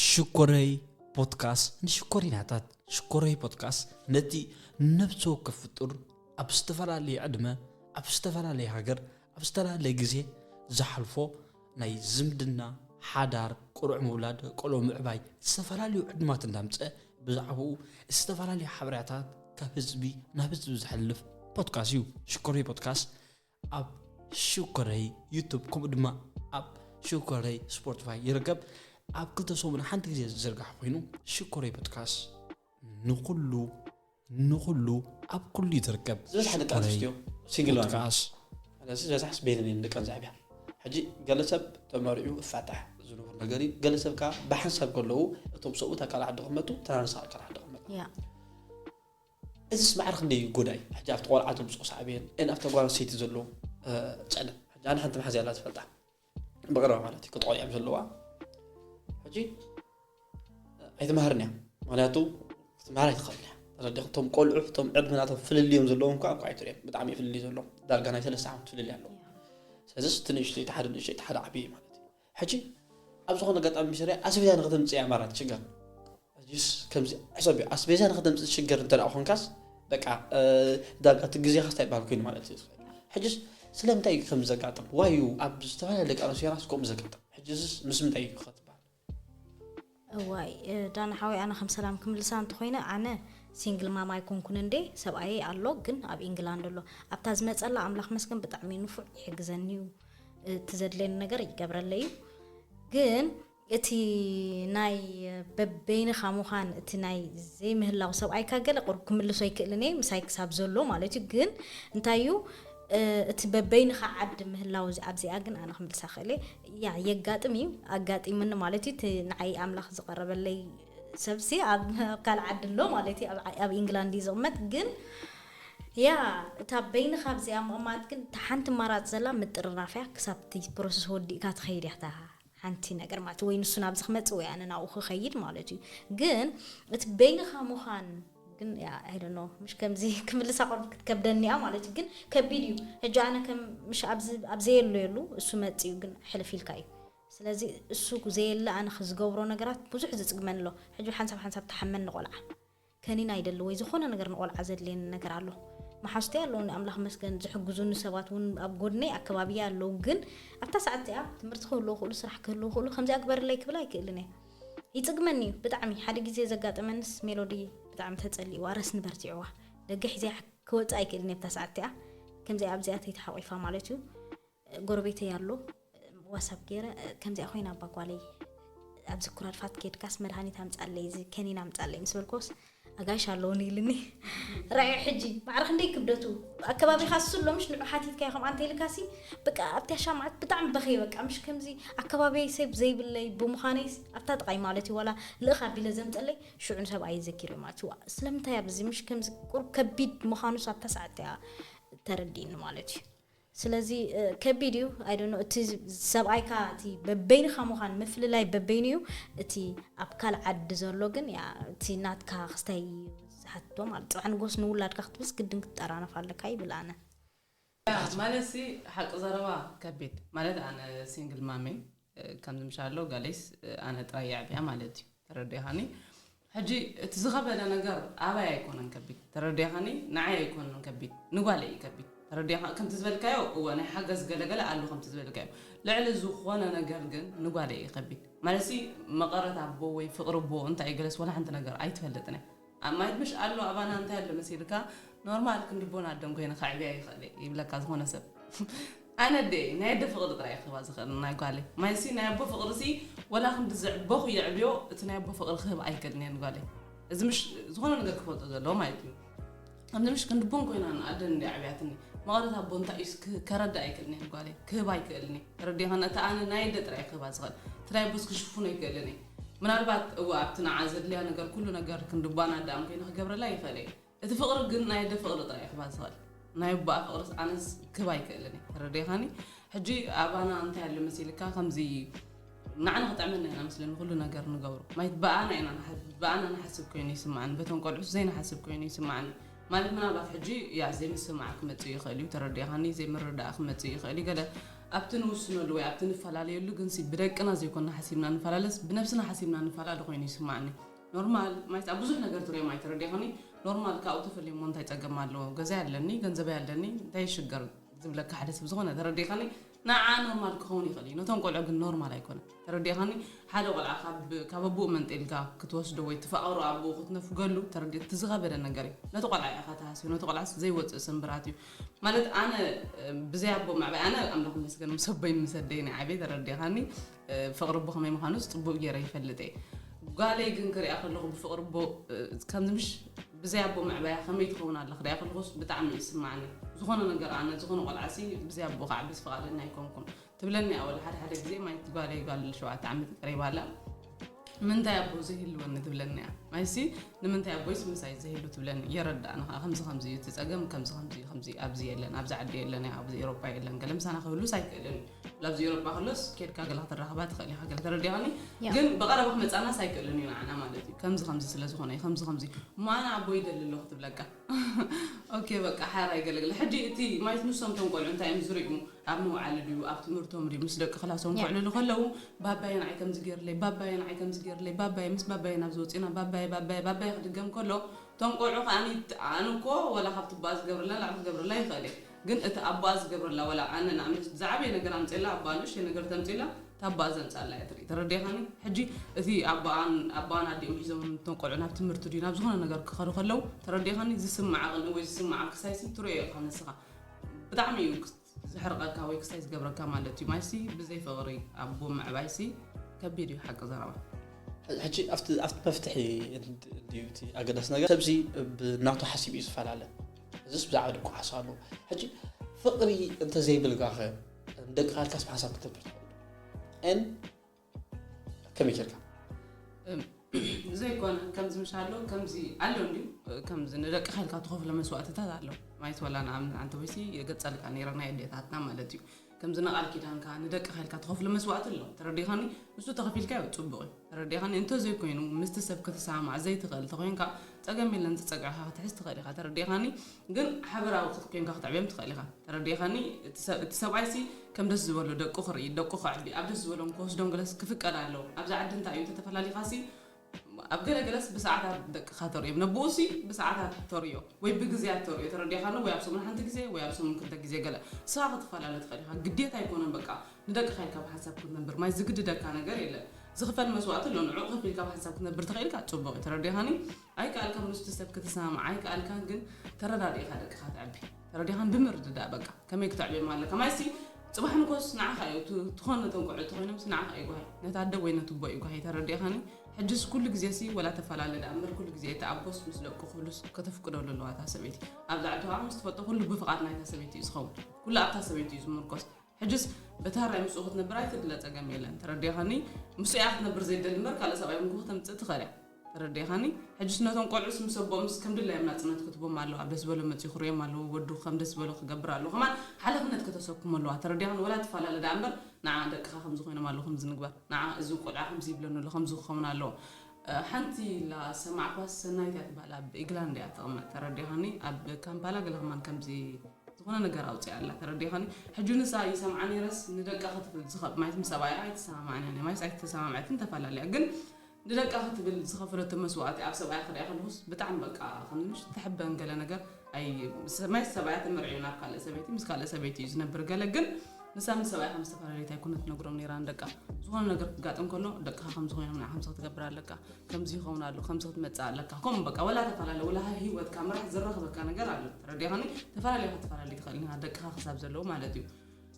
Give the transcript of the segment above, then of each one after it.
ሽኮረይ ፖድካስት ንሽኮሪናታት ሽኮረይ ፖድካስት ነቲ ነብሲ ወከፍ ፍጡር ኣብ ዝተፈላለየ ዕድመ ኣብ ዝተፈላለየ ሃገር ኣብ ዝተፈላለየ ግዜ ዝሓልፎ ናይ ዝምድና ሓዳር ቁርዕ ምውላድ ቆልዑ ምዕባይ ዝተፈላለዩ ዕድማት እንዳምፀ ብዛዕባኡ ዝተፈላለዩ ሓበሬታት ካብ ህዝቢ ናብ ህዝቢ ዝሕልፍ ፖድካስት እዩ ሽኮሪ ፖድካስት ኣብ ሽኮረይ ዩቱብ ከምኡ ድማ ኣብ ሽኮረይ ስፖርትፋይ ይርከብ ኣብ ክልተ ሰሙን ሓንቲ ግዜ ዝዝርጋሕ ኮይኑ ሽኮረይ ፖድካስ ንኩሉ ንኩሉ ኣብ ኩሉ እዩ ዝርከብ ዝበዝሓ ደቂ ኣንስትዮ ሲንግል ፖድካስ ስለዚ ዝበዝሓ ስቤልን እየን ደቀን ዘዕብያ ሕጂ ገለ ሰብ ተመሪዑ እፋታሕ ዝንቡር ነገር እዩ ገለ ሰብ ከዓ ብሓንሳብ ከለዉ እቶም ሰብኡት ኣካል ዓዲ ክመጡ ተናንሳ ኣካል ዓዲ ክመጡ እዚስ ማዕረ ክንደይ እዩ ጎዳኢ ሕጂ ኣብቲ ቆልዓ ተምጽኦ ሳዕቤን ን ኣብታ ጓል ኣንስተይቲ ዘሎ ጽዕነት ሕጂ ኣነ ሓንቲ መሓዝያ ኣላ ዝፈልጣ ብቐረባ ማለት እዩ ክጥቆ እዮም ዘለዋ ሕጂ ኣይትመሃርን እያ ምክንያቱ ክትመሃር ኣይትኽእልን እያ ተረዲኹ እቶም ቆልዑ እቶም ዕድመ ናቶም ፍልልዮም ዘለዎም እኳ እኳ ኣይትርእዮም ብጣዕሚ እዩ ፍልልይ ዘሎ ዳርጋ ናይ ሰለስተ ዓመት ፍልልይ ኣለዎ ስለዚስ እቲ ንእሽተይ እቲ ሓደ ንእሽተይ እቲ ሓደ ዓብዪ ማለት እዩ ሕጂ ኣብ ዝኾነ ኣጋጣሚ ምስ ሪኣ ኣስቤዛ ንክተምጽእ እያ ማራ ትሽገር ኣዚስ ከምዚ ሕሰብዮ ኣስቤዛ ንክተምጽእ ትሽገር እንተ ኮንካስ በቃ ዳርጋ እቲ ግዜኻስ ታይ በሃል ኮይኑ ማለት እዩ ሕጂስ ስለምንታይ እዩ ከምዚ ዘጋጥም ዋዩ ኣብ ዝተፈላለዩ ደቂ ኣንስትዮ ራስ ከምኡ ዘጋጥም ሕጂስ ምስ ምንታይ እዩ እዋይ ዳኒ ሓወይ ኣነ ከም ሰላም ክምልሳ እንተኮይነ ኣነ ሲንግል ማም ኣይኮንኩን እንዴ ሰብኣየይ ኣሎ ግን ኣብ ኢንግላንድ ኣሎ ኣብታ ዝመጸላ ኣምላኽ መስገን ብጣዕሚ ንፉዕ ይሕግዘኒ እዩ እቲ ዘድለየኒ ነገር ይገብረለይ እዩ ግን እቲ ናይ በበይንኻ ምዃን እቲ ናይ ዘይምህላው ሰብኣይካ ገለ ቅሩብ ክምልሶ ኣይክእልን እየ ምሳይ ክሳብ ዘሎ ማለት እዩ ግን እንታይ እዩ እቲ በበይንኻ ዓዲ ምህላው ኣብዚኣ ግን ኣነ ክምልሳ ክእል እየ ያእ የጋጥም እዩ ኣጋጢሙኒ ማለት እዩ እቲ ንዓይ ኣምላኽ ዝቐረበለይ ሰብሲ ኣብ ካልእ ዓዲ ኣሎ ማለት እዩ ኣብ ኢንግላንድ እዩ ዝቕመጥ ግን ያ እታ በይንኻ ኣብዚኣ ምቕማጥ ግን እታ ሓንቲ ማራፅ ዘላ ምጥርናፍ እያ ክሳብ እቲ ፕሮሰስ ወዲእካ ትኸይድ እያ እታ ሓንቲ ነገር ማለት ወይ ንሱ ናብዚ ክመፅእ ወይ ኣነ ናብኡ ክኸይድ ማለት እዩ ግን እቲ በይንኻ ምዃን ግን ያእ ኣይ ዶኖ ምሽ ከምዚ ክምልሳ ኮን ክትከብደኒ እያ ማለት እዩ ግን ከቢድ እዩ ሕጂ ኣነ ከም ምሽ ኣብዚ ኣብ ዘየሎ የሉ እሱ መጽዩ ግን ሕልፍ ኢልካ እዩ ስለዚ እሱ ዘየለ ኣነ ክዝገብሮ ነገራት ብዙሕ ዝጽግመን ኣሎ ሕጂ ሓንሳብ ሓንሳብ ተሓመን ንቆልዓ ከኒና ይደሊ ወይ ዝኾነ ነገር ንቆልዓ ዘድልየኒ ነገር ኣሎ መሓዝተይ ኣለውኒ ኣምላኽ መስገን ዝሕግዙኒ ሰባት እውን ኣብ ጎድነይ ኣከባቢያ ኣለዉ ግን ኣብታ ሰዓት እዚኣ ትምህርቲ ክህልዎ ክእሉ ስራሕ ክህልዎ ክእሉ ከምዚኣ ግበርለይ ክብል ኣይክእልን እየ ይጽግመኒ ዩ ብጣዕሚ ሓደ ግዜ ዘጋጠመንስ ሜሎዲ ብጣዕሚ ተጸሊእዋ ረስኒ በርቲዕዋ ደገ ሒዘያ ክወጽእ ኣይክእልን ኣብታ ሰዓት እቲኣ ከምዚኣ ኣብዚኣ ተይተሓቂፋ ማለት ዩ ጎረቤተይ ኣሎ ዋሳብ ገይረ ከምዚኣ ኮይና ኣባ ጓለይ ኣብዚ ኩራድፋት ኬድካስ መድሃኒት ኣምጻለይ እዚ ከኒን ኣምጻለይ ምስ በልኮስ ኣጋይሽ ኣለዉኒ ኢልኒ ራኣዮ ሕጂ ማዕረ ክንደይ ክብደቱ ኣከባቢኻ እሱ ኣሎ ምሽ ንዑ ሓቲትካዮ ከምኣ እንተኢልካሲ በቃ ኣብቲያ ሻምዓት ብጣዕሚ በኸየ በቃ ምሽ ከምዚ ኣከባቢይ ሰብ ዘይብለይ ብምዃነይስ ኣብታ ጥቓይ ማለት እዩ ዋላ ልእኽ ኣቢለ ዘምፀለይ ሽዑ ንሰብኣየ ዘኪረ ማለት እዩ ስለምንታይ ኣብዚ ምሽ ከምዚ ቁሩብ ከቢድ ምዃኑስ ኣብታ ሰዓት እያ ተረዲእኒ ማለት እዩ ስለዚ ከቢድ እዩ ኣይ ዶንት ኖው እቲ ሰብኣይካ እቲ በበይንካ ምዃን ምፍልላይ በበይኑ እዩ እቲ ኣብ ካልእ ዓዲ ዘሎ ግን እቲ ናትካ ክስታይ እዩ ዝሓትቶ ማለት ጽባሕ ንግሆስ ንውላድካ ክትብልስ ግድን ክትጠራነፍ ኣለካ ይብል ኣነ ማለት ሲ ሓቂ ዘረባ ከቢድ ማለት ኣነ ሲንግል ማም እየ ከምዚ ምሻሎ ገሌስ ኣነ ጥራይ የዕብያ ማለት እዩ ተረዲኻኒ ሕጂ እቲ ዝኸበደ ነገር ኣባይ ኣይኮነን ከቢድ ተረዲኻኒ ንዓይ ኣይኮነን ከቢድ ንጓለይ እዩ ከቢድ ተረዲኻ ከምቲ ዝበልካዮ እወ ናይ ሓገዝ ገለገለ ኣሉ ከምቲ ዝበልካዮ ልዕሊ ዝኾነ ነገር ግን ንጓለይ እዩ ከቢድ ማለትሲ መቐረት ኣቦ ወይ ፍቕሪ ኣቦ እንታይ እዩ ገለስ ወላ ሓንቲ ነገር ኣይትፈልጥን እያ ኣብ ማይድብሽ ኣሎ ኣባና እንታይ ኣሎ መሲልካ ኖርማል ክንዲ ቦን ኣደም ኮይነ ከዕብያ ይክእል እየ ይብለካ ዝኮነ ሰብ ኣነ ኣደይ ናይ ኣደ ፍቅሪ ጥራይ እየ ክህባ ዝክእል ናይ ጓለይ ማይሲ ናይ ኣቦ ፍቅሪ ሲ ወላ ክንዲ ዘዕበኩ የዕብዮ እቲ ናይ ኣቦ ፍቅሪ ክህብ ኣይክእልን እየ ንጓለይ እዚ ምሽ ዝኮነ ነገር ክፈልጦ ዘለዎ ማለት እዩ ኣብዚ ምሽ ክንዲ ቦን ኮይና ንኣደ እንዲ ኣዕብያትኒ መቐረት ኣቦ እንታይ እዩ እስኪ ከረዳ ኣይክእልን እየ ንጓለይ ክህብ ኣይክእልን እየ ተረዲኻና እቲ ኣነ ናይ ኣደ ጥራይ እየ ክህባ ዝክእል እቲ ናይ ኣቦስ ክሽፍኖ ኣይክእልን እየ ምናልባት እወ ኣብቲ ንዓ ዘድልያ ነገር ኩሉ ነገር ክንድባን ኣደኣን ኮይኑ ክገብረላ ይክእል እየ እቲ ፍቅሪ ግን ናይ ኣደ ፍቅሪ ጥራይ እዩ ክባ ዝክእል ናይ ኣቦኣ ፍቅርስ ኣነስ ክብ ኣይክእልን እየ ተረዲእካኒ ሕጂ ኣባና እንታይ ኣሎ መሲልካ ከምዚ ንዓና ክጥዕመና ኢና መስለኒ ኩሉ ነገር ንገብሮ ማይት ብኣና ኢና ብኣና ንሓስብ ኮይኑ ይስምዓኒ በቶም ቆልዑስ ዘይንሓስብ ኮይኑ ይስምዓኒ ማለት ምናልባት ሕጂ ያእ ዘይምስምማዕ ክመጽእ ይኽእል እዩ፣ ተረዲእኻኒ፣ ዘይምርድዳእ ክመጽእ ይኽእል እዩ፣ ገለ ኣብቲ ንውስነሉ ወይ ኣብቲ ንፈላለየሉ ግንሲ ብደቅና ዘይኮንና ሓሲብና ንፈላለስ ብነብስና ሓሲብና ንፈላለ ኮይኑ ይስምዓኒ ኖርማል ማለት ኣብ ብዙሕ ነገር ትሪኦ ማለት ተረዲእኻኒ ኖርማል ካብኡ ተፈልየሞ እንታይ ጸገም ኣለዎ ገዛይ ኣለኒ ገንዘበይ ኣለኒ እንታይ ይሽገር ዝብለካ ሓደ ሰብ ዝኾነ ተረዲእኻኒ ንዓኣ ኖርማል ክኸውን ይኽእል እዩ፣ ነቶም ቆልዑ ግን ኖርማል ኣይኮነን። ተረዲእኻኒ? ሓደ ቆልዓ ካብ ካብ ኣቡኡ መንጢልካ ክትወስዶ ወይ ትፋቕሮ ኣቡኡ ክትነፍገሉ ተረዲ እቲ ዝኸበደ ነገር እዩ። ነቲ ቆልዓ እዩ ኢኻ ትሃስዮ፣ ነቲ ቆልዓስ ዘይወጽእ ስምብራት እዩ። ማለት ኣነ ብዘይ ኣቦ ምዕባይ ኣነ ኣምላኽ ይመስገን ምስ ኣቦይን ምስ ኣደይን እየ ዓብየ ተረዲእኻኒ? ፍቕሪ'ቦ ከመይ ምዃኑስ ጽቡቕ ገይረ ይፈልጥ'የ። ጓለይ ግን ክሪኣ ከለኹ ብፍቕሪ'ቦ ከምዚ ምሽ ብዘይ ኣቦ ምዕባያ ከመይ ትኸውን ኣላ ክሪኣ ከለኹስ ብጣዕሚ እዩ ዝስማዓኒ። ዝኾነ ነገር ኣነ ዝኾነ ቆልዓሲ ብዘይ ኣቦኡ ክዓብስ ፍቓደኛ ኣይኮንኩን። ትብለኒ'ያ ወላ ሓደ ሓደ ግዜ ማይቲ ጓለይ ጓል ሸውዓተ ዓመት እዩ ቀሪባ ኣላ ንምንታይ ኣቦ ዘይህልወኒ ትብለኒ'ያ። ማይሲ ንምንታይ ኣቦይስ ምሳይ ዘይህሉ ትብለኒ። የረድኣኒ ከኣ ከምዚ ከምዚ እዩ እቲ ጸገም ከምዚ ከምዚ እዩ ከምዚ ኣብዚ የለን ኣብዚ ዓዲ የለን ኣብዚ ኤሮፓ የለን ገለ ምሳና ክህሉስ ኣይክእልን እዩ። ላብዚ ኤሮጳ ከሎስ ኬድካ ገለ ክትራኸባ ትኽእል ኢኻ ገለ ተረዲኻኒ ያ። ግን ብቐረባ ክመጻናስ ኣይክእልን እዩ ንዓና ማለት እዩ ከምዚ ከምዚ ስለ ዝኾነ እዩ ከምዚ ከምዚ እሞ ኣነ ኣቦ ይደሊ ኣለኹ ክትብለካ ኦኬ በቃ ሓራይ ገለ ገለ ሕጂ እቲ ማይት ንሶም እቶም ቆልዑ እንታይ እዮም ዝርእዩ ኣብ መውዓሊ ድዩ ኣብ ትምህርቶም ድዩ ምስ ደቂ ክላሶም ያ። ክውዕልሉ ከለዉ ባባየ ንዓይ ከምዚ ገይርለይ ባባየ ንዓይ ከምዚ ገይርለይ ባባየ ምስ ባባየ ናብዚ ወጺእና ባባየ ባባየ ባባየ ክድገም ከሎ እቶም ቆልዑ ከኣ ኣነ እኮ ወላ ካብቲ ቦኣ ዝገብረላ ንላዕሊ ክገብረላ ይኽእል እየ ግን እቲ ኣቦኣ ዝገብረላ ወላ ኣነ ንኣብነት ዝዓበየ ነገር ኣምጼላ ኣቦኣ ንእሽተይ ነገር ተምጺላ እታ ኣቦኣ ዘምጻላ እያ ትርኢ ተረዲእኻኒ ሕጂ እቲ ኣቦኣን ኣቦኣን ኣዲኦም ሒዞም እቶም ቆልዑ ናብ ትምህርቲ ድዩ ናብ ዝኾነ ነገር ክኸዱ ከለው ተረዲእኻኒ ዝስምዓ ቅንኢ ወይ ዝስምዓ ክሳይሲ ትርእዮ ኢኻ ንስኻ ብጣዕሚ እዩ ዘሕርቐካ ወይ ክሳይ ዝገብረካ ማለት እዩ ማይሲ ብዘይ ፍቕሪ ኣቦ ምዕባይሲ ከቢድ እዩ ሓቂ ዘረባ ሕጂ ኣብቲ ኣብቲ መፍትሒ ድዩ እቲ ኣገዳሲ ነገር ሰብዚ ብናቱ ሓሲቡ እዩ ዝፈላለ እዚስ ብዛዕባ ደቁ ሓሳብ ኣለዎ ሕጂ ፍቅሪ እንተዘይብልካኸ ደቂ ካልካስ ሓሳብ ክትነብር ትኽእል ን ከመይ ጌርካ ዘይኮነ ከምዚ ምሽ ኣሎ ከምዚ ኣሎ እንዲዩ ከምዚ ንደቂ ካልካ ትኸፍሎ መስዋእትታት ኣሎ ማይት ወላ ንኣብነት ኣንተ ወይሲ የገጸልካ ነይረ ናይ ኣዴታትና ማለት እዩ ከምዚ ንቃል ኪዳንካ ንደቅካ ኢልካ ትከፍሎ መስዋእቲ ኣሎ ተረዲካኒ ንሱ ተከፊልካዮ ጽቡቅ እዩ ተረዲካኒ እንተዘይ ኮይኑ ምስቲ ሰብ ክትሰማማዕ ዘይትክእል ተኮይንካ ጸገም የለን ዝጸግዕካ ክትሕዝ ትክእል ኢካ ተረዲካኒ ግን ሓበራዊ ክትኮንካ ክትዕብዮም ትክእል ኢካ ተረዲካኒ እቲ ሰብኣይሲ ከም ደስ ዝበሎ ደቁ ክርኢ ደቁ ከዕቢ ኣብ ደስ ዝበሎም ክወስዶም ገለስ ክፍቀድ ኣለዎ ኣብዚ ዓዲ እንታይ እዩ ተተፈላሊካሲ ኣብ ገለ ገለስ ብሰዓታት ደቅኻ ተርእዮም። ነብኡሲ ብሰዓታት ተርእዮ ወይ ብግዜያት ተርእዮ ተረዲእኻ ኣሎ ወይ ኣብ ሰሙን ሓንቲ ግዜ ወይ ኣብ ሰሙን ክልተ ግዜ ገለ ንስኻ ክትፈላለ ትኽእል ኢኻ ግዴታ ኣይኮነን በቃ ንደቅኻ ኢልካ ብሓንሳብ ክትነብር ማይ ዝግድደካ ነገር የለን ዝኽፈል መስዋእቲ ኣሎ ንዕኡ ከፊልካ ብሓንሳብ ክትነብር ተኽኢልካ ጽቡቕ እዩ ተረዲኻኒ ኣይከኣልካ ምስቲ ሰብ ክትሰማማዕ ኣይከኣልካን ግን ተረዳዲእኻ ደቅኻ ተዕቢ ተረዲኻን ብምርድዳእ በቃ ከመይ ክተዕብዮም ኣለካ ማለት ሲ ጽባሕ ንኮስ ንዓኻ እዩ እቲ ትኾን ነቶም ቆልዑ ተኾይኖም ሲ ንዓኻ እዩ ጓሂ ነቲ ኣደ ወይ ነቲ ኣቦ እዩ ጓሂ ተረዲእኻኒ ሕጅስ ኩሉ ግዜ ሲ ወላ ተፈላለ ደኣ እምበር ኩሉ ግዜ እቲ ኣቦስ ምስ ደቁ ክህሉስ ከተፍቅደሉ ኣለዋ እታ ሰበይቲ ኣብ ላዕሊ ተባዕ ምስ ትፈልጦ ኩሉ ብፍቓድ ናይታ ሰበይቲ እዩ ዝኸውን ኩሉ ኣብታ ሰበይቲ እዩ ዝምርኮስ ሕጅስ በታ ራይ ምስኡ ክትነብር ኣይትድለ ጸገም የለን ተረዲእኻኒ ምስኡ እያ ክትነብር ዘይደሊ እምበር ካልእ ሰብኣይ እውን ከተምጽእ ትኽእል እያ ተረዲእኻኒ ሕጅስ ነቶም ቆልዑስ ምስ ኣቦኦምስ ከም ድላዮም ናጽነት ክትቦም ኣለዋ ደስ በሎም መጽዩ ክርእዮም ኣለዎ ወዱ ከም ደስ ዝበሎ ክገብር ኣለዎ ከማን ሓለፍነት ከተሰክሞ ኣለዋ ተረዲእኻኒ ወላ ትፋላለ ደኣ እምበር ንዓ ደቅኻ ከምዚ ኮይኖም ኣለዉ ከምዚ ንግበር ንዓ እዚ ቆልዓ ከምዚ ይብለኒ ኣሎ ከምዚ ክኸውን ኣለዎ ሓንቲ ኢላ ዝሰማዕክዋስ ሰናይት እያ ትብሃል ኣብ ኢግላንድ እያ ትቕመጥ ተረዲእኻኒ ኣብ ካምፓላ ገለ ከማን ከምዚ ዝኾነ ነገር ኣውጽኣ ኣላ ተረዲእኻኒ ሕጂ ንሳ ይሰምዓ ነይረስ ንደቃ ክትፍል ዝኸብ ማይት ምስ ሰብኣያ ኣይተሰማማዕን እያ ማይስ ኣይተሰማምዐትን ተፈላለያ ግን ንደቃ ክትብል ዝከፈለቶ መስዋእቲ ኣብ ሰብኣያ ክሪኣ ከለኩስ ብጣዕሚ በቃ ከም ምሽ ትሕበን ገለ ነገር ኣይ መስ ሰብኣያ ተመርዒዩ ናብ ካልእ ሰበይቲ ምስ ካልእ ሰበይቲ እዩ ዝነብር ገለ ግን ንሳ ምስ ሰብኣያ ከም ዝተፈለለየት ኣይኮነት ትነግሮም ነራ ንደቃ ዝኾነ ነገር ክጋጥም ከሎ ደቅካ ከምዚ ኮይኖም ንዓ ከምዚ ክትገብር ኣለካ ከምዚ ይኸውን ኣሎ ከምዚ ክትመጽእ ኣለካ ከምኡ በቃ ወላ ተፈላለ ወላ ህይወትካ ምራሕ ዘራክበካ ነገር ኣሎ ተረዲኻኒ ተፈላለዩ ክትፈላለዩ ትኽእል ኢኻ ደቅካ ክሳብ ዘለዉ ማለት እዩ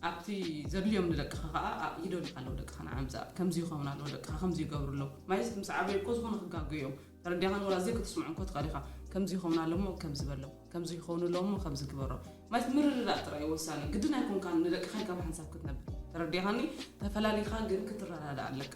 ኣብቲ ዘድልዮም ንደቅኻ ከኣ ኣእ ይደልዩ ኣለዉ ደቅኻ ንዓ ምጻእ ከምዚ ይኸውን ኣለዎ ደቅኻ ከምዚ ይገብሩ ኣለዉ ማይስ ምስ ዓበዩ እኮ ዝኾነ ክጋገዩ እዮም ተረዲኣኻን ወላ ዘይክትስምዖም እኮ ትኽእል ኢኻ ከምዚ ይኸውን ኣሎ እሞ ከምዚ በሎም ከምዚ ይኸውን ኣለዎ እሞ ከምዚ ግበሮም ማይስ ምርድዳእ ጥራይ እዩ ወሳኒ ግድን ኣይኮንካን ንደቅኻ ኢልካ ብሓንሳብ ክትነብር ተረዲኣኻኒ ተፈላሊኻ ግን ክትረዳዳእ ኣለካ።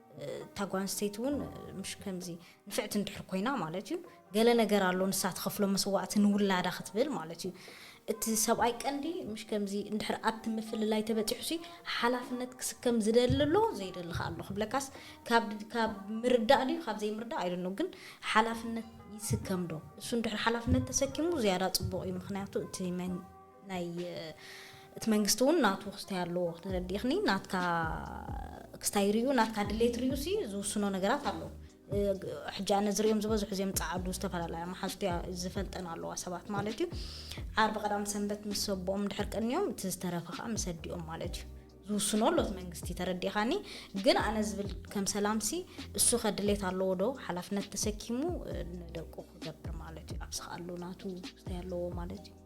እታ ጓል ኣንስተይቲ እውን ምሽ ከምዚ ንፍዕቲ እንድሕር ኮይና ማለት እዩ ገለ ነገር ኣሎ ንሳ ትኸፍሎ መስዋእቲ ንውላዳ ክትብል ማለት እዩ እቲ ሰብኣይ ቀንዲ ምሽ ከምዚ እንድሕር ኣብቲ ምፍልላይ ተበፂሑ ሲ ሓላፍነት ክስከም ዝደሊ ኣሎ ዘይደሊ ከ ኣሎ ክብለካስ ካብ ምርዳእ ድዩ ካብ ዘይምርዳእ ኣይደኖ ግን ሓላፍነት ይስከም ዶ እሱ እንድሕር ሓላፍነት ተሰኪሙ ዝያዳ ፅቡቕ እዩ ምክንያቱ እቲ ናይ እቲ መንግስቲ እውን ናቱ ክስታይ ኣለዎ ተረዲእኽኒ ናትካ ክስታይ ሪኡ ናትካ ድሌት ሪኡ ሲ ዝውስኖ ነገራት ኣሎ ሕጂ ኣነ ዝሪኦም ዝበዝሑ እዚኦም ፃዓዱ ዝተፈላለያ መሓዝቱ እያ ዝፈልጠን ኣለዋ ሰባት ማለት እዩ ዓርቢ ቀዳም ሰንበት ምስ ሰቦኦም ድሕር ቀኒዮም እቲ ዝተረፈ ከዓ ምስ ኣዲኦም ማለት እዩ ዝውስኖ ኣሎት መንግስቲ ተረዲኻኒ ግን ኣነ ዝብል ከም ሰላምሲ እሱ ከድሌት ኣለዎ ዶ ሓላፍነት ተሰኪሙ ንደቁ ክገብር ማለት እዩ ኣብ ዝኸኣሉ ናቱ ስታይ ኣለዎ ማለት እዩ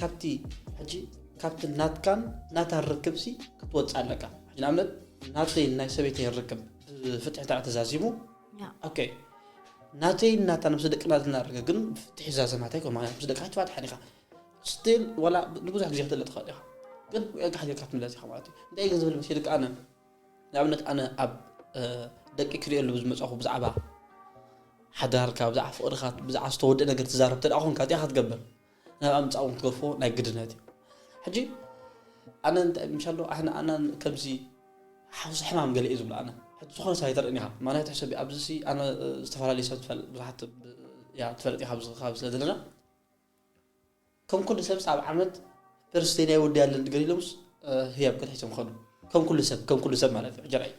ካብቲ ሕጂ ካብቲ ናትካን ናታን ርክብሲ ክትወጽእ ኣለካ ሕጂ ንኣብነት ናተይን ናይ ሰበይተይን ርክብ ብፍትሒ እንተ ተዛዚሙ ኦኬ ናተይን ናታን ምስ ደቅና ዘለና ርክብ ግን ብፍትሒ ዛዘም ናተይ ኮ ማለት ምስ ደቅካ ትፋትሕ ዲኻ ስትል ዋላ ንብዙሕ ግዜ ክትለጥ ትኽእል ኢኻ ግን ዕግሕ ጌርካ ትምለስ ኢኻ ማለት እዩ እንታይ ግን ዝብል መሲልካ ኣነ ንኣብነት ኣነ ኣብ ደቂ ክሪኦሉ ብዝመፅኹ ብዛዕባ ሓዳርካ ብዛዕባ ፍቕርካ ብዛዕባ ዝተወደእ ነገር ትዛረብ ተደኣ ኮንካ እዚኣ ክትገብር ናብ ኣምጻኡ ክትገፎ ናይ ግድነት እዩ ሕጂ ኣነ እንታይ ምሻሎ ኣነ ኣነ ከምዚ ሓውሲ ሕማም ገለ እዩ ዝብሎ ኣነ ሕጂ ዝኾነ ሰብ ኣይተርእን ኢኻ ማለት ሕሰብ ኣብዚ ሲ ኣነ ዝተፈላለዩ ሰብ ትፈልጥ ብዙሓት ያ ትፈልጥ ኢኻ ኣብዚ ከባቢ ስለ ዘለና ከም ኩሉ ሰብ ኣብ ዓመት ፐርስቴን ኣይወዲ ያለን ድገር ኢሎምስ ህያብ ከተሒሶም ኸዱ ከም ኩሉ ሰብ ከም ኩሉ ሰብ ማለት እዩ ሕጀራይ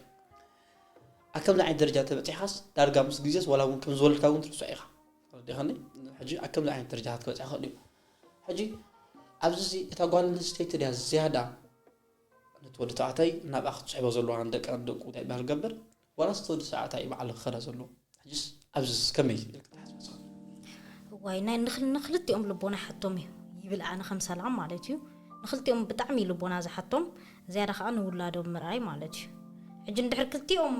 ኣብ ከምዚ ዓይነት ደረጃ ተበፂሕካስ ዳርጋ ምስ ግዜስ ዋላ እውን ከም ዝወለድካ እውን ትርስዖ ኢኻ ተረዲኻኒ ሕጂ ኣብ ከምዚ ዓይነት ደረጃታት ክበጽሕ ይኽእል እዩ ሕጂ ኣብዚ እዚ እታ ጓል ኣንስተይቲ ድያ ዝያዳ ነቲ ወዲ ተባዕታይ ናብኣ ክትስሕቦ ዘለዋ ንደቂ ደቁ እንታይ ይበሃል ገብር ዋላስ እቲ ወዲ ተባዕታይ በዓሉ ክኸዳ ዘለዎ ሕጂስ ኣብዚ ከመይ ክትሓስበ እዋይ ናይ ንክልቲኦም ልቦና ሓቶም እዩ ይብል ኣነ ከም ሰላም ማለት እዩ ንክልቲኦም ብጣዕሚ ልቦና ዝሓቶም ዝያዳ ከኣ ንውላዶም ምርኣይ ማለት እዩ ሕጂ ንድሕር ክልቲኦም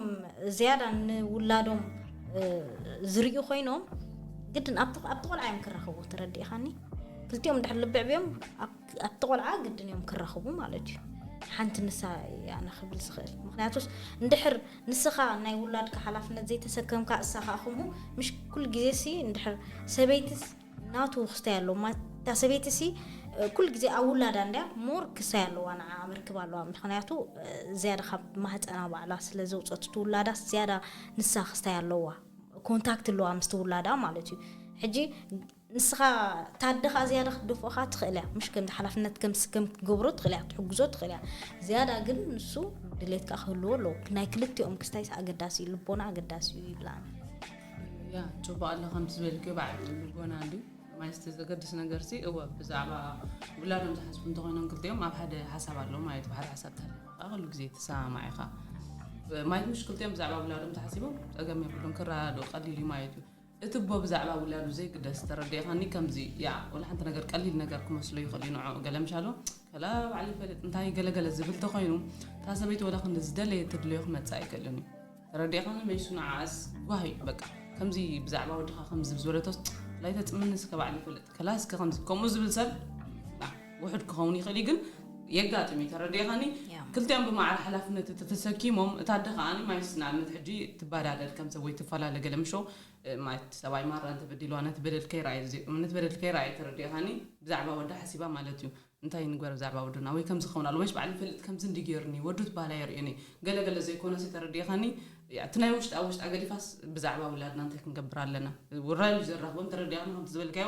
ዝያዳ ንውላዶም ዝርእዩ ኮይኖም ግድን ኣብቲ ኣብቲ ቆልዓ እዮም ክራኸቡ ተረዲእኻኒ ክልቲኦም ድሕር ልቢ ዕብዮም ኣብቲ ቆልዓ ግድን እዮም ክራኸቡ ማለት እዩ ሓንቲ ንሳ ኣነ ክብል ዝኽእል ምክንያቱስ እንድሕር ንስኻ ናይ ውላድካ ሓላፍነት ዘይተሰከምካ እሳ ከዓ ከምኡ ምሽ ኩሉ ግዜ ሲ እንድሕር ሰበይትስ ናቱ ክስታይ ኣለዎ ማት እታ ሰበይቲ ሲ ኩሉ ግዜ ኣብ ውላዳ እንድያ ሞር ክሳይ ኣለዋ ንዓኣ መርክብ ኣለዋ ምክንያቱ ዝያዳ ካብ ማህፀና ባዕላ ስለ ዘውፀት እቲ ውላዳስ ዝያዳ ንሳ ክስታይ ኣለዋ ኮንታክት ኣለዋ ምስቲ ውላዳ ማለት እዩ ሕጂ ንስኻ ታደ ከዓ ዝያዳ ክትደፍኦ ከዓ ትኽእል እያ ምሽ ከምዚ ሓላፍነት ከም ስከም ክትገብሮ ትኽእል እያ ክትሕግዞ ትኽእል እያ ዝያዳ ግን ንሱ ድሌት ከዓ ክህልዎ ኣለዎ ናይ ክልቲኦም ክስታይስ ኣገዳሲ እዩ ልቦና ኣገዳሲ እዩ ይብላኒ ያ ጽቡቅ ኣሎ ከምቲ ዝበልክዮ ባዕሉ ልቦና ድዩ ማለት እቲ ዘገድስ ነገር ሲ እወ ብዛዕባ ውላዶም ዝሓስቡ እንተኾይኖም ክልቲኦም ኣብ ሓደ ሓሳብ ኣለዎ ማለት ብሓደ ሓሳብ ተሃሊኻ ከዓ ኩሉ ግዜ ትሰማማዕ ኢኻ ማለት ምሽ ክልቲኦም ብዛዕባ ውላዶም ተሓሲቦም ጸገም የብሉን ክረዳድኡ ቀሊል እዩ ማለት እዩ እቲ እቦ ብዛዕባ ውላዱ ዘይግደስ ተረዲእኻኒ ከምዚ ያ ወላ ሓንቲ ነገር ቀሊል ነገር ክመስሎ ይኽእል እዩ ንዕኡ ገለ ምሻሎ ከላ ባዕሉ ይፈልጥ እንታይ ገለገለ ዝብል ተኾይኑ እታ ሰበይቲ ወላ ክንዲ ዝደለየ ትድለዮ ክመፅእ ኣይክእልን እዩ ተረዲእኻኒ መይሱ ንዓኣስ ጓህ እዩ በቃ ከምዚ ብዛዕባ ወድኻ ከምዚ ዝበለቶስ ላይ ተጽምኒ እስከ ባዕሉ ይፈልጥ ከላ እስከ ከምዚ ከምኡ ዝብል ሰብ ውሑድ ክኸውን ይኽእል እዩ ግን የጋጥም እዩ ተረዲእኻኒ ክልቲኦም ብማዕረ ሓላፍነት እቲ ተሰኪሞም እታ ኣደ ከዓኒ ማይስ ንኣብነት ሕጂ ትባዳደል ከም ሰብ ወይ ትፈላለ ገለ ምሾ ማለት ሰብኣይ ማራ እንተበዲልዋ ነቲ በደል ከይረኣየ እምነት በደል ከይረኣየ ተረዲእኻኒ ብዛዕባ ወዳ ሓሲባ ማለት እዩ እንታይ ንግበር ብዛዕባ ወድና ወይ ከምዚ ክኸውን ኣለዎ መች ባዕሉ ይፈልጥ ከምዚ እንድዩ ጌሩኒ ወዱ ትበሃል ኣየርእዮን'ዩ ገለ ገለ ዘይኮነሲ ተረዲእኻኒ እቲ ናይ ውሽጣ ኣብ ውሽጣ ገዲፋስ ብዛዕባ ውላድና እንታይ ክንገብር ኣለና ውራይ'ዩ ዘራኽቦም ተረዲእኻኒ ከምቲ ዝበልካዮ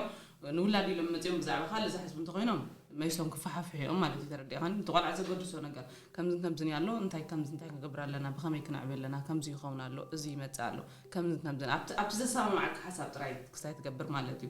ንውላድ ኢሎም መጺኦም ብዛዕባ ካልእ ዝሓስቡ እንተኾይኖም መይሶም ክፈሓፍሑ'ዮም ማለት'ዩ ተረዲእኻኒ እቲ ቆልዓ ዘገድሶ ነገር ከምዝን ከምዝን'ዩ ኣሎ እንታይ ከምዚ እንታይ ክንገብር ኣለና ብኸመይ ክነዕብዮ ኣለና ከምዚ ይኸውን ኣሎ እዚ ይመጽእ ኣሎ ከምዝን ከምዝን ኣብቲ ኣብቲ ዘሰማምዓካ ሓሳብ ጥራይ ክስታይ ትገብር ማለት'ዩ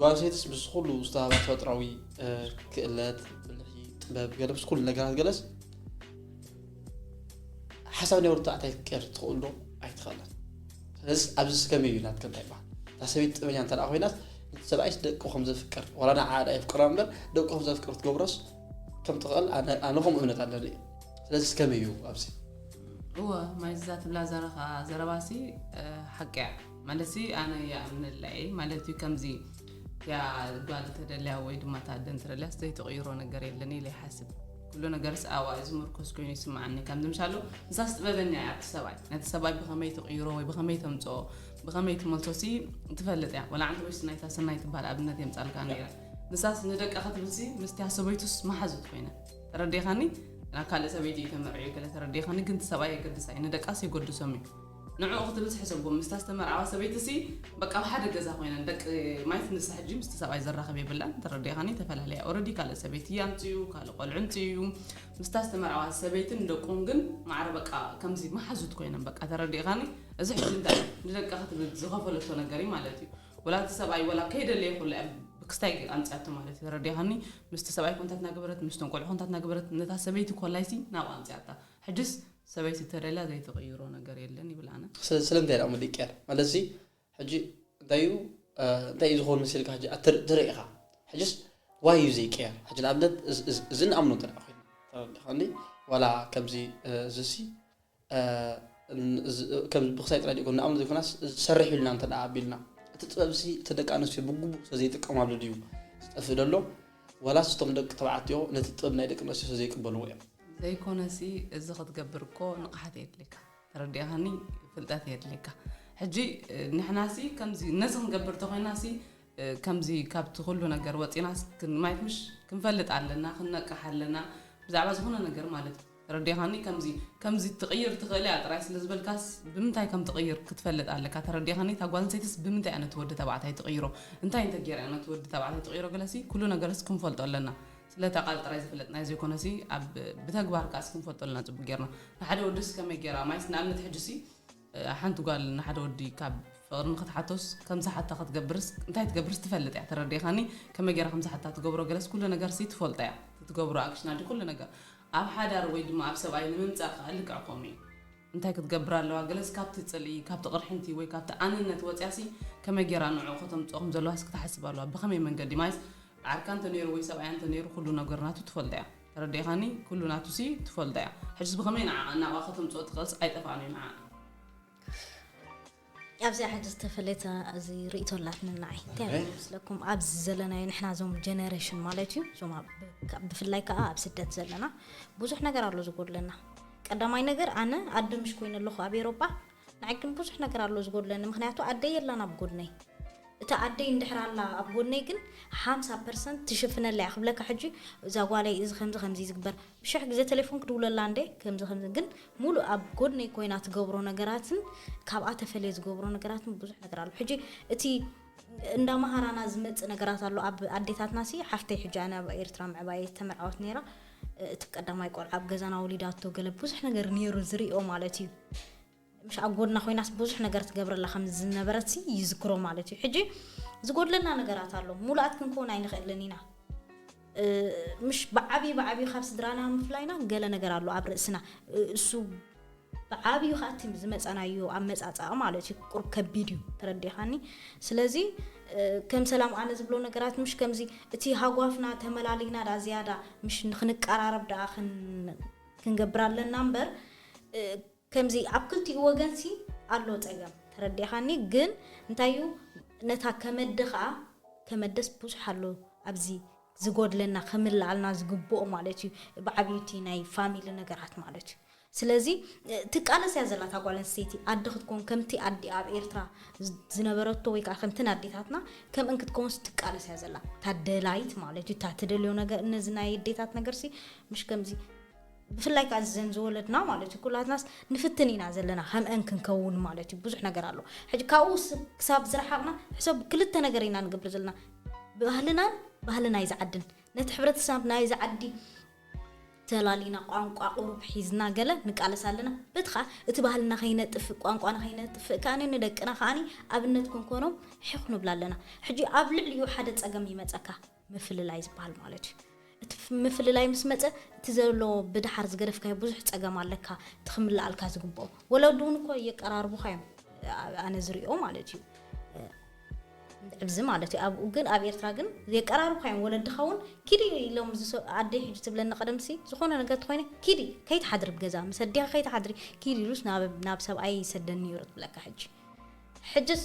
ጓል ሴትስ ምስ ኩሉ ዝተሃባ ተፈጥራዊ ክእለት ብልሒ ጥበብ ገለ ምስ ኩሉ ነገራት ገለስ ሓሳብ ናይ ወርትዓት ኣይትቀር ትኽእሉ ዶ ኣይትኽእለን ስለዚ ኣብዚ ስከመይ እዩ ናትከ እንታይ ይበሃል እታ ሰበይቲ ጥበኛ እንተ ኮይናስ ሰብኣይስ ደቂ ከም ዘፍቅር ዋላ ንዓዳ የፍቅራ እምበር ደቂ ከም ዘፍቅር ትገብሮስ ከም ትኽእል ኣነ ከምኡ እምነት ኣለኒ እዩ ስለዚ ስከመይ እዩ ኣብዚ እወ ማይዛ ትብላ ዘረኻ ዘረባሲ ሓቂ እያ ማለትሲ ኣነ ይኣምነላ እየ ማለት እዩ ከምዚ እቲኣ ጓል ተደልያ ወይ ድማ እታ ኣደ እንተደልያስ ዘይትቕይሮ ነገር የለን ኢለ ይሓስብ ኩሉ ነገርስ ኣብኣ እዩ ዝምርኮስ ኮይኑ ይስምዓኒ ከምዚ ምሳሉ ንሳስ ጥበበኛ እያ ኣብቲ ሰብኣይ ነቲ ሰብኣይ ብኸመይ ትቕይሮ ወይ ብኸመይ ተምፅኦ ብኸመይ ትመልሶሲ ትፈልጥ እያ ወላ ዓንቲ ወይስ ናይታ ሰናይ ትበሃል ኣብነት የምፃልካ ነይረ ንሳስ ንደቃ ክትብልሲ ምስቲያ ሰበይቱስ መሓዙት ኮይነ ተረዲኻኒ ናብ ካልእ ሰበይቲ እዩ ተመርዕዩ ገለ ተረዲኻኒ ግን ሰብኣይ የገድስ ኣይ ንደቃስ የገድሶም እዩ ንዕኡ ክትብል ዝሕሰቦ ምስታ ዝተመርዓወት ሰበይቲሲ በቃ ኣብ ሓደ ገዛ ኮይነን ደቂ ማይት ንሳ ሕጂ ምስቲ ሰብኣይ ዘራኽብ የብላን ተረዲእኻኒ ተፈላለያ ኦረዲ ካልእ ሰበይቲ ኣምፅኡ ካልእ ቆልዑ ኣምፅኡ ምስታ ዝተመርዓዋ ሰበይትን ደቁን ግን ማዕረ በቃ ከምዚ መሓዙት ኮይነን በቃ ተረዲእኻኒ እዚ ሕጂ እንታይ ንደቃ ክትብል ዝኸፈለቶ ነገር እዩ ማለት እዩ ወላ እቲ ሰብኣይ ወላ ከይደለየ ኩላ እያ ክስታይ ጌር ኣምፅኣቶ ማለት እዩ ተረዲእኻኒ ምስቲ ሰብኣይ ኮንታት ናገበረት ምስቶም ቆልዑ ኮንታት ናገበረት ነታ ሰበይቲ ኮላይሲ ናብኡ ኣምፅኣታ ሕጅስ ሰበይቲ እንተደልያ ዘይትቕይሮ ነገር የለን ይብል ኣነ። ስለምንታይ ድኣ እሞ ድቅያት ማለትሲ ሕጂ እንታይ እዩ እንታይ እዩ ዝኸውን መሲልካ ሕጂ ትርኢ ኢኻ ሕጂስ ዋይ እዩ ዘይቀየር ሕጂ ንኣብነት እዚ ንኣምኖ እንተ ደኣ ኮይና ተረዲኻኒ ዋላ ከምዚ እዚሲ ከም ብክሳይ ጥራይ ድዩ ንኣምኖ ዘይኮናስ ዝሰርሕ ኢልና እንተ ደኣ ኣቢልና እቲ ጥበብሲ እቲ ደቂ ኣንስትዮ ብግቡእ ስለዘይጥቀማሉ ድዩ ዝጠፍእ ደሎ ዋላስ እቶም ደቂ ተባዕትዮ ነቲ ጥበብ ናይ ደቂ ኣንስትዮ ስለዘይቅበልዎ እዮም ዘይኮነሲ እዚ ክትገብር እኮ ንቕሓት የድልየካ ተረዲእኻኒ ፍልጠት የድልየካ ሕጂ ንሕናሲ ከምዚ ነዚ ክንገብር ተኾይናሲ ከምዚ ካብቲ ኩሉ ነገር ወፂናስ ማየት ምሽ ክንፈልጥ ኣለና ክንነቅሕ ኣለና ብዛዕባ ዝኾነ ነገር ማለት እዩ ተረዲኻኒ ከምዚ ከምዚ ትቕይር ትኽእል እያ ጥራይ ስለ ዝበልካስ ብምንታይ ከም ትቕይር ክትፈልጥ ኣለካ ተረዲኻኒ እታ ጓል ኣንስተይትስ ብምንታይ እያ ነቲ ወዲ ተባዕታይ ትቕይሮ እንታይ እንተገይራ እያ ነቲ ወዲ ተባዕታይ ትቕይሮ ገለሲ ኩሉ ነገርስ ክንፈልጦ ኣለና ስለ እታ ቃል ጥራይ ዝፍለጥናዮ ዘይኮነሲ ኣብ ብተግባር ከኣ ክንፈልጦ ኣለና ጽቡቅ ጌርና ንሓደ ወድስ ከመይ ጌራ ማይስ ንኣብነት ሕጂሲ ሓንቲ ጓል ንሓደ ወዲ ካብ ፍቅሪ ንክትሓቶስ ከም ዝሓታ ክትገብርስ እንታይ ትገብርስ ትፈልጥ እያ ተረዲእካኒ ከመይ ጌራ ከም ዝሓታ ትገብሮ ገለስ ኩሉ ነገርሲ ትፈልጦ እያ ትገብሮ ኣክሽና ድዩ ኩሉ ነገር ኣብ ሓዳር ወይ ድማ ኣብ ሰብኣይ ንምምጻእ ከኣ ልክዕ ከምኡ እዩ እንታይ ክትገብር ኣለዋ? ገለስ ካብቲ ጽልኢ፣ ካብቲ ቅርሕንቲ ወይ ካብቲ ኣነነት ወጺኣሲ ከመይ ጌራ ንዕኡ ከተምጽኦ ከም ዘለዋሲ ክትሓስብ ኣለዋ። ብኸመይ መንገዲ? ማይስ ዓርካ እንተ ነይሩ ወይ ሰብኣያ እንተ ነይሩ ኩሉ ነገር ናቱ ትፈልጦ እያ። ተረዲእካኒ? ኩሉ ናቱሲ ትፈልጦ እያ። ሕጅስ ብኸመይ ንዓኣ ናብኣ ከተምጽኦ ትኽእልሲ ኣይጠፍኣን እዩ ንዓኣ። ኣብዚኣ ሕጂ ዝተፈለየት እዚ ርእቶ ኣላትና ንዓይ እንታይ እየ ዝመስለኩም ኣብዚ ዘለናዮ ንሕና እዞም ጀነሬሽን ማለት እዩ እዞም ብፍላይ ከዓ ኣብ ስደት ዘለና ብዙሕ ነገር ኣሎ ዝጎድለና ቀዳማይ ነገር ኣነ ኣደ ምሽ ኮይኑ ኣለኹ ኣብ ኤሮጳ ንዓይ ግን ብዙሕ ነገር ኣሎ ዝጎድለኒ ምክንያቱ ኣደይ የላን ኣብ ጎድነይ እታ ኣደይ እንድሕር ኣላ ኣብ ጎድነይ ግን ሓምሳ ፐርሰንት ትሽፍነለይ ክብለካ ሕጂ እዛ ጓለይ እዚ ከምዚ ከምዚ ዝግበር ሽሕ ግዜ ተሌፎን ክድውለላ እንዴ ከምዚ ከምዚ ግን ሙሉእ ኣብ ጎድነይ ኮይና ትገብሮ ነገራትን ካብኣ ተፈልየ ዝገብሮ ነገራትን ብዙሕ ነገር ኣሎ ሕጂ እቲ እንዳ መሃራና ዝመጽእ ነገራት ኣሎ ኣብ ኣዴታትና ሲ ሓፍተይ ሕጂ ኣነ ኣብ ኤርትራ ምዕባየ ዝተመርዓወት ነይራ እቲ ቀዳማይ ቆልዓ ኣብ ገዛና ወሊዳቶ ገለ ብዙሕ ነገር ነይሩ ዝርኦ ማለት እዩ ምሽ ኣብ ጎድና ኮይናስ ብዙሕ ነገር ትገብረላ ከም ዝነበረትሲ ይዝክሮ ማለት እዩ። ሕጂ ዝጎድለና ነገራት ኣሎ፣ ሙሉኣት ክንከውን ኣይንኽእልን ኢና። ምሽ ብዓብዩ ብዓብዩ ካብ ስድራና ምፍላይና ገለ ነገር ኣሎ ኣብ ርእስና፣ እሱ ብዓብዩ ከኣ እቲ ዝመጻናዮ ኣመጻጽኣ ማለት እዩ ቁሩብ ከቢድ እዩ ተረዲኻኒ። ስለዚ ከም ሰላም ኣነ ዝብሎ ነገራት ምሽ ከምዚ እቲ ሃጓፍና ተመላሊና ደኣ ዝያዳ ምሽ ንኽንቀራረብ ደኣ ክንገብር ኣለና እምበር፣ ከምዚ ኣብ ክልቲኡ ወገን ሲ ኣሎ ጸገም ተረዲእኻኒ ግን እንታይ እዩ ነታ ከመደ ከኣ ከመደስ ብዙሕ ኣሎ ኣብዚ ዝጎድለና ክምልኣልና ዝግብኦ ማለት እዩ ብዓቢኡ እቲ ናይ ፋሚሊ ነገራት ማለት እዩ ስለዚ ትቃለስ እያ ዘላ እታ ጓል ኣንስተይቲ ኣደ ክትከውን ከምቲ ኣዲኣ ኣብ ኤርትራ ዝነበረቶ ወይ ከኣ ከምቲ ኣዴታትና ከምእን ክትከውንስ ትቃለስ እያ ዘላ እታ ደላይት ማለት እዩ እታ ትደልዮ ነገር እነዚ ናይ ኣዴታት ነገርሲ ምሽ ከምዚ ብፍላይ ከኣ እዘን ዝወለድና ማለት እዩ ኩላትናስ ንፍትን ኢና ዘለና ከምኤን ክንከውን ማለት እዩ ብዙሕ ነገር ኣሎ ሕጂ ካብኡ ክሳብ ዝረሓቕና ሕሰብ ክልተ ነገር ኢና ንገብር ዘለና ባህልናን ባህሊ ናይዚ ዓድን ነቲ ሕብረተሰብ ናይዚ ዓዲ ተላሊና ቋንቋ ቁሩብ ሒዝና ገለ ንቃለስ ኣለና በቲ ከዓ እቲ ባህልና ከይነጥፍእ ቋንቋና ከይነጥፍእ ከዓኒ ንደቅና ከዓኒ ኣብነት ክንኮኖም ሒኽ ንብላ ኣለና ሕጂ ኣብ ልዕሊኡ ሓደ ፀገም ይመፀካ ምፍልላይ ዝበሃል ማለት እዩ። እቲ ምፍልላይ ምስ መጸ እቲ ዘሎ ብድሓር ዝገደፍካዮ ብዙሕ ጸገም ኣለካ እቲ ክምልኣልካ ዝግብኦ። ወለዱ እውን እኮ የቀራርቡኻ እዮም ኣነ ዝሪኦ ማለት እዩ። ዕብዚ ማለት እዩ ኣብኡ ግን ኣብ ኤርትራ ግን የቀራርብካ እዮም ወለድኻ እውን ኪዲ ኢሎም ኣደይ ሕጂ ትብለኒ ቀደምሲ ዝኾነ ነገር ትኾይነ ኪዲ ከይትሓድሪ ብገዛ ምስ ኣዴኻ ከይትሓድሪ ኪዲ ኢሉስ ናብ ሰብኣይ ይሰደኒ ነይሩ ትብለካ ሕጂ ሕጅስ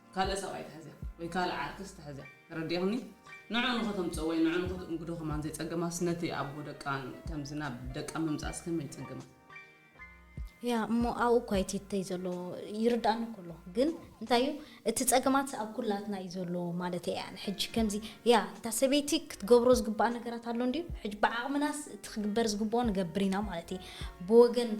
ካልእ ሰብኣይ ተሐዚያ ወይ ካልእ ዓርክስ ተሐዚያ ተረዲእኽኒ ንዑ ንኸተምጽኦ ወይ ንዑ ንኸትእንግዶ ከማን ዘይጸገማስ ነቲ ኣቦ ደቃ ከምዚ ናብ ደቃ ምምጻእስ ከመይ ይጸገማ። ያ እሞ ኣብኡ እኳ ይቲተይ ዘሎ ይርዳእኒ እኮ ኣሎ ግን እንታይ እዩ እቲ ጸገማት ኣብ ኩላትና እዩ ዘሎ ማለት እያ ሕጂ ከምዚ ያ እታ ሰበይቲ ክትገብሮ ዝግባኣ ነገራት ኣሎ እንዲዩ ሕጂ ብዓቕምናስ እቲ ክግበር ዝግብኦ ንገብር ኢና ማለት እዩ ብወገን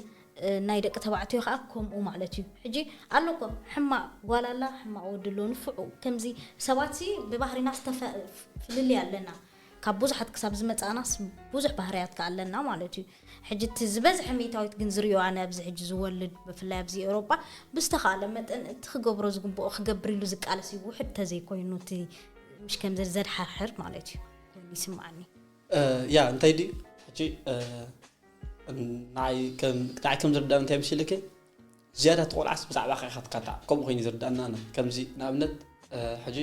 ናይ ደቂ ተባዕትዮ ከኣ ከምኡ ማለት እዩ ሕጂ ኣሎ እኮ ሕማቅ ጓል ኣላ ሕማቅ ወዲ ኣሎ ንፍዑ ከምዚ ሰባት ሲ ብባህሪና ዝተፈ ፍልልይ ኣለና ካብ ቡዙሓት ክሳብ ዝመጻእናስ ቡዙሕ ባህርያት ከኣ ኣለና ማለት እዩ ሕጂ እቲ ዝበዝሐ ሚእታዊት ግን ዝሪኦ ኣነ ኣብዚ ሕጂ ዝወልድ ብፍላይ ኣብዚ ኤሮጳ ብዝተካእለ መጠን እቲ ክገብሮ ዝግብኦ ክገብር ኢሉ ዝቃለስ እዩ ውሑድ ተዘይ ኮይኑ እቲ ምሽ ከምዚ ዘድሓርሕር ማለት እዩ ኮይኑ ይስምዓኒ። ያ እንታይ ድዩ ሕጂ ንዓይ ከም ዝርዳእ እንታይ መሲልኪ ዝያዳ እቲ ቆልዓስ ብዛዕባኻ ኢኻ ትካታዕ ከምኡ ኮይኑ ዝርዳእና ኣነ ከምዚ ንኣብነት ሕጂ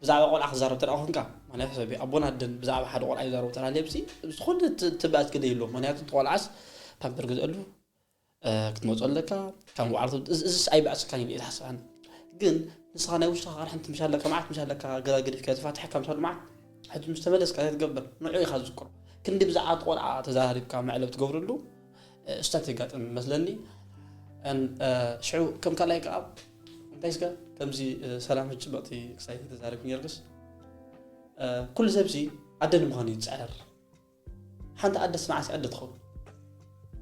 ብዛዕባ ቆልዓ ክዛረብ ተደኣ ኮንካ ማለት ሕሰቢ ኣቦን ኣደን ብዛዕባ ሓደ ቆልዓ ይዛረቡ ተላልየብሲ ዝኾነ ትብኣት ክደ ይብሎ ምክንያቱ እቲ ቆልዓስ ፓምፐር ግዝአሉ ክትመጾ ኣለካ ካብ ባዕሉ እዚስ ኣይበዕሰካን ኢለ ኣይትሓስባን ግን ንስኻ ናይ ውሽኻ ቃርሕንቲ ምሽ ኣለካ መዓት ምሽ ኣለካ ገላግዲፍካ ተፋትሐካ ምሽ መዓት ሕጂ ምስ ተመለስካ እንታይ ትገብር ንዑ ኢኻ ዝዝክሮ ክንዲ ብዛዕባ ቆልዓ ተዘራሪብካ መዕለብ ትገብርሉ ስታት የጋጥም መስለኒ ሽዑ ከም ካልኣይ ከዓ እንታይ ስጋ ከምዚ ሰላም ሕጭበቕቲ ክሳይ ተዛረብ ነርግስ ኩሉ ሰብሲ ኣደ ንምዃኑ ይፅዕር ሓንቲ ኣደስ መዓስ ኣደ ትኸውን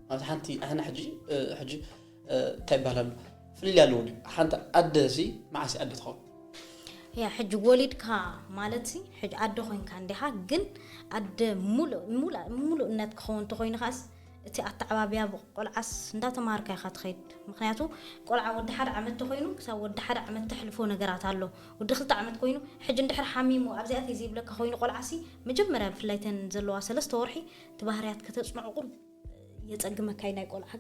ማለት ሓንቲ ኣህና ሕጂ ሕጂ እንታይ ይባሃል ኣሎ ፍልልይ ኣለዎ ድዩ ሓንቲ ኣደ ሲ መዓስ ኣደ ትኸውን ያ ሕጂ ወሊድካ ማለት ሲ ሕጂ ኣደ ኮይንካ እንዲኻ ግን ኣደ ሙሉእ ሙሉእነት ክኸውን ተኮይኑ ከዓስ እቲ ኣተዓባብያ ብቆልዓስ እንዳተማሃርካ ኢኻ ትኸይድ ምኽንያቱ ቆልዓ ወዲ ሓደ ዓመት ተኾይኑ ክሳብ ወዲ ሓደ ዓመት ተሕልፎ ነገራት ኣሎ ወዲ ክልተ ዓመት ኮይኑ ሕጂ እንድሕር ሓሚሙ ኣብዚ ኣትየ ዘይብለካ ኮይኑ ቆልዓሲ መጀመርያ ብፍላይ እተን ዘለዋ ሰለስተ ወርሒ እቲ ባህርያት ከተጽንዕቁ የጸግመካ እዩ ናይ ቆልዓ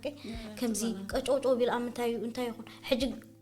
ከምዚ ቀጨውጨው ቢል ኣብ ምንታይ እዩ እንታይ ይኹን ሕጂ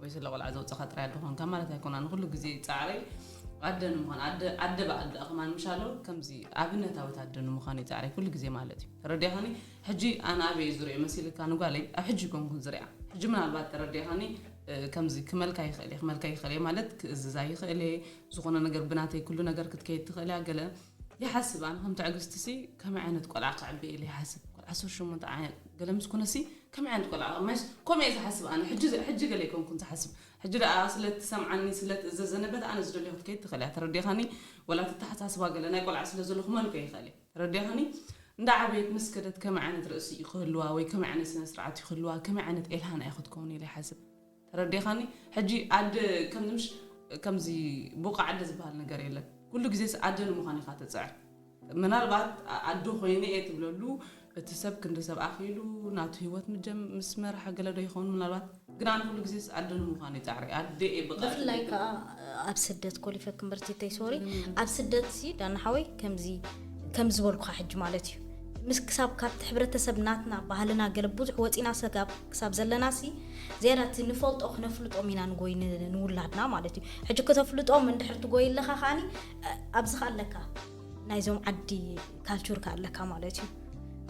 ወይ ስለ ቆልዓ ዘውጸኻ ጥራይ ኣደ ኮንካ ማለት ኣይኮን ኣነ ኩሉ ግዜ ጻዕረይ ኣደ ንምዃን ኣደ ኣደ በዓል ደኣ ከማን ምሻሎ ከምዚ ኣብነታዊት ኣደ ንምዃን እዩ ጻዕረይ ኩሉ ግዜ ማለት እዩ ተረዲኻኒ ሕጂ ኣነ ኣበይ እዩ ዝሪኦ መሲልካ ንጓለይ ኣብ ሕጂ ኮንኩን ዝሪኣ ሕጂ ምናልባት ተረዲኻኒ ከምዚ ክመልካ ይኽእል እየ ክመልካ ይኽእል እየ ማለት ክእዝዛ ይኽእል እየ ዝኾነ ነገር ብናተይ ኩሉ ነገር ክትከይድ ትኽእል እያ ገለ ይሓስብ ኣነ ከም ትዕግስቲ ሲ ከመይ ዓይነት ቆልዓ ከዕቢ ኢለ ይሓስብ ቆልዓ ዓሰርተ ሸሞንተ ገለ ምስ ኩነሲ ከመይ ዓይነት ቆልዓ ኢኻ መሽ ከምኡ እየ ዝሓስብ ኣነ ሕጂ ሕጂ ገለ ኣይኮንኩን ዝሓስብ ሕጂ ደኣ ስለ ትሰምዓኒ ስለ ትእዘዘኒ በታ ኣነ ዝደልዮ ክትከይድ ትኽእል እያ ተረዲእኻኒ ወላ እቲ ኣተሓሳስባ ገለ ናይ ቆልዓ ስለ ዘሎ ክመልኮ ይኽእል እየ ተረዲእኻኒ እንዳ ዓበየት ምስ ከደት ከመይ ዓይነት ርእሲ እዩ ክህልዋ ወይ ከመይ ዓይነት ስነ ስርዓት እዩ ክህልዋ ከመይ ዓይነት ኤልሃና እያ ክትከውን ኢለ ይሓስብ ተረዲኻኒ ሕጂ ኣደ ከምዚ ምሽ ከምዚ ቡቅ ኣደ ዝባሃል ነገር የለን ኩሉ ግዜስ ኣደ ንምዃን ኢኻ ትጽዕር ምናልባት ኣደ ኮይነ እየ ትብለሉ እቲ ሰብ ክንዲ ሰብ ኣኺሉ ናቱ ሂወት ምጀም ምስ መርሐ ገለ ዶ ይኸውን ምናልባት ግን ኣነ ኩሉ ግዜስ ኣደ ንምዃን እየ ጻዕረይ ኣደ እየ ብቐዕ ብፍላይ ትብለኒ። ከኣ ኣብ ስደት ኮሊፈኪ እምበር ቲተይ ሶሪ ኣብ ስደት ሲ ዳኒ ሓወይ ከምዚ ከም ዝበልኩኻ ሕጂ ማለት እዩ ምስ ክሳብ ካብቲ ሕብረተሰብ ናትና ባህልና ገለ ብዙሕ ወጺና ሰጋብ ክሳብ ዘለናሲ ዝያዳ እቲ ንፈልጦ ክነፍልጦም ኢና ንጎይ ንውላድና ማለት እዩ ሕጂ ክተፍልጦም እንድሕር ትጎይ ኣለካ ከዓኒ ኣብዚ ከ ኣለካ ናይዞም ዓዲ ካልቹር ከ ኣለካ ማለት እዩ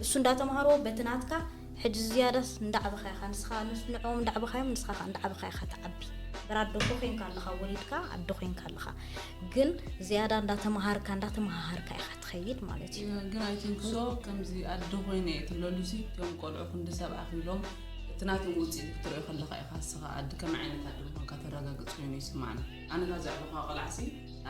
እሱ እንዳተማሃሮ በቲ ናትካ ሕጂ ዝያዳስ እንዳዕበኻ ኢኻ ንስኻ ንዕኦም እንዳዕበኻዮም ንስኻ ከዓ እንዳዕበኻ ኢኻ ትዓቢ ብራ ኣዶ ኮይንካ ኣለኻ ወሊድካ ኣዶ ኮይንካ ኣለኻ ግን ዝያዳ እንዳተምሃርካ እንዳተመሃሃርካ ኢኻ ትኸይድ ማለት እዩ ግን ኣይ ቲንክ ሶ ከምዚ ኣደ ኮይነ እየ ትለሉሲ እቶም ቆልዑ ክንዲ ሰብ ኣኺሎም እቲ ናቶም ውፅኢት ክትሪኦ ከለካ ኢኻ እስኻ ኣደ ከመይ ዓይነት ኣደ ምዃንካ ተረጋግፅ ኮይኑ ይስማዓኒ ኣነ እታ ዘዕበኻ ቆልዓሲ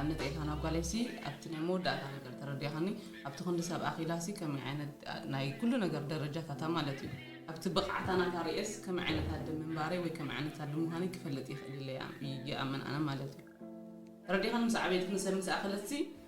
ኣብነት ኤታ ናብ ጓለይሲ ኣብቲ ናይ መወዳእታ ነገር ተረዲኻኒ ኣብቲ ክንዲ ሰብ ኣኺላሲ ከመይ ዓይነት ናይ ኩሉ ነገር ደረጃታታ ማለት እዩ ኣብቲ ብቕዓታ ናታ ርእየስ ከመይ ዓይነት ኣደ ምንባረይ ወይ ከመይ ዓይነት ኣደ ምዃነይ ክፈልጥ ይኽእል ኢለ ይኣምን ኣነ ማለት እዩ ተረዲኻኒ ምስ ዓበየት ንሰብ ምስ ኣኸለትሲ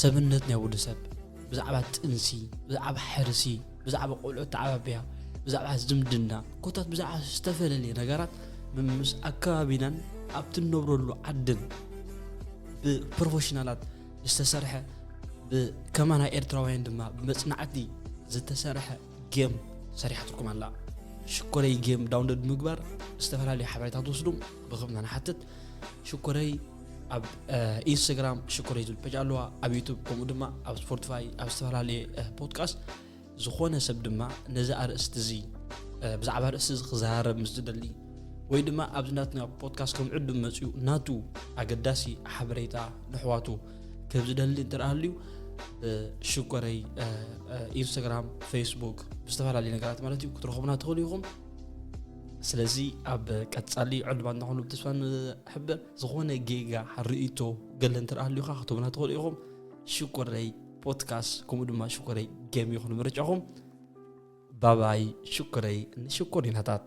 ሰብነት ናይ ወዲ ሰብ ብዛዕባ ጥንሲ፣ ብዛዕባ ሕርሲ፣ ብዛዕባ ቆልዑ ተዓባቢያ፣ ብዛዕባ ዝምድና፣ ኮታት ብዛዕባ ዝተፈለለየ ነገራት ምስ ኣከባቢናን ኣብቲ እንነብረሉ ዓድን ብፕሮፌሽናላት ዝተሰርሐ ብከማና ኤርትራውያን ድማ ብመፅናዕቲ ዝተሰርሐ ጌም ሰሪሓትኩም ኣላ ሽኮረይ ጌም ዳውንሎድ ምግባር ዝተፈላለዩ ሓበሬታ ትወስዱ ብክምና ንሓትት ሽኮረይ ኣብ ኢንስታግራም ሽኮረይ ዝብል ፔጅ ኣለዋ ኣብ ዩቱብ ከምኡ ድማ ኣብ ስፖርትፋይ ኣብ ዝተፈላለየ ፖድካስት ዝኾነ ሰብ ድማ ነዚ ኣርእስቲ እዚ ብዛዕባ ርእሲ እዚ ክዘራረብ ምስ ዝደሊ ወይ ድማ ኣብዚ ናትና ፖድካስት ከም ዕዱም መፅኡ ናቱ ኣገዳሲ ሓበሬታ ንሕዋቱ ከም ዝደሊ እንትርኣልዩ ሽኮረይ ኢንስታግራም ፌስቡክ ብዝተፈላለዩ ነገራት ማለት እዩ ክትረኽቡና ትኽእሉ ኢኹም ስለዚ ኣብ ቀጻሊ ዕልባና ኹኑ ብተስፋ ንሕበር ዝኾነ ጌጋ ርእቶ ገለ እንተ ሃልዩካ ክትብና ትኽእሉ ኢኹም ሽኮረይ ፖድካስት ከምኡ ድማ ሽኮረይ ገም ይኹን ምርጫኹም ባባይ ሽኮረይ ንሽኮሪናታት